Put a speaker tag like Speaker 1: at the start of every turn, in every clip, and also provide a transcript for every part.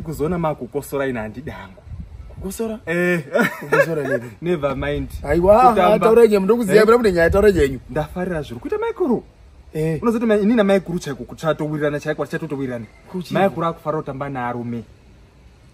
Speaker 1: kuzoona
Speaker 2: makukosora ina handidi hangu kukosora
Speaker 1: eh. kukosora nini never mind aiwa
Speaker 2: taura
Speaker 1: nyenyu ndokuziva mira mune nyaya taura nyenyu ndafarira zviri kuita
Speaker 2: maikuru eh. unozoti ini namaikuru chaiko kuchatowirirana chaiko tichatotowirirana maikuru akufara kutamba naarume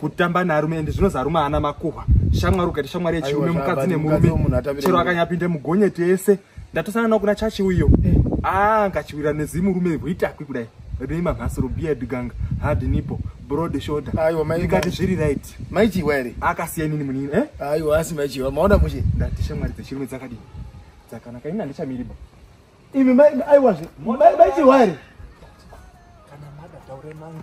Speaker 2: kutamba nearume ende zvinozi arume haana makuhwa shamwari ukaita shamwari yechirume mukadzi nemurume chero akanyapinde mugonyeti yese ndatosana nao kuna chachi uyo eh. aa ah, ngachiwira nezimurume rwitakwi kudai rine mamhasiro beard gang hard nipo broad shoulder aiwa ikati zviri
Speaker 1: right
Speaker 2: maichiwa ere
Speaker 1: akasiya nini munini
Speaker 2: eh aiwa asi maichiwa
Speaker 1: maona mushe ndati shamwari dzechirume
Speaker 2: dzakadii dzakanaka ini handichamiriba imi
Speaker 1: maichiwa ere
Speaker 2: kana mada taure mangu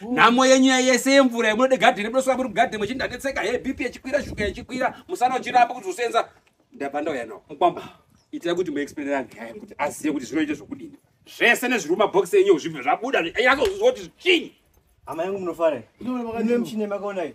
Speaker 2: nhamo yenyu yese yemvura yemunode gadheni munosvika muri mugadheni muchindanetseka he bp yechikwira shuga yechikwira musana uchiramba kuti usenza ndabva ndauya nawo mukwamba itai kuti muexplainera nyaya kuti azive kuti zvinoita zvokudini zvese nezviri mumabhokisi enyu zvibve zvabuda kuti zviinyi hama yangu
Speaker 3: munofara ine muchine makaonai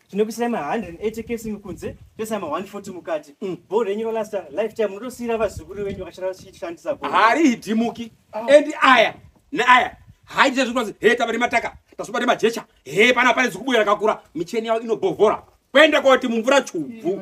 Speaker 3: tinokuisira ma 180 k sing kunze toisa ma 140 mukati mm. bho renyu rolasta lifetime munotosiira vazukuru venyu vakashandisa bho harihidimuki
Speaker 2: ah. and aya neaya haiite zvekuti he tava nemataka tazoba nemajecha he pana pane zikubuya rakakura micheni yavo inobhovhora kwenda koti mumvura chubvu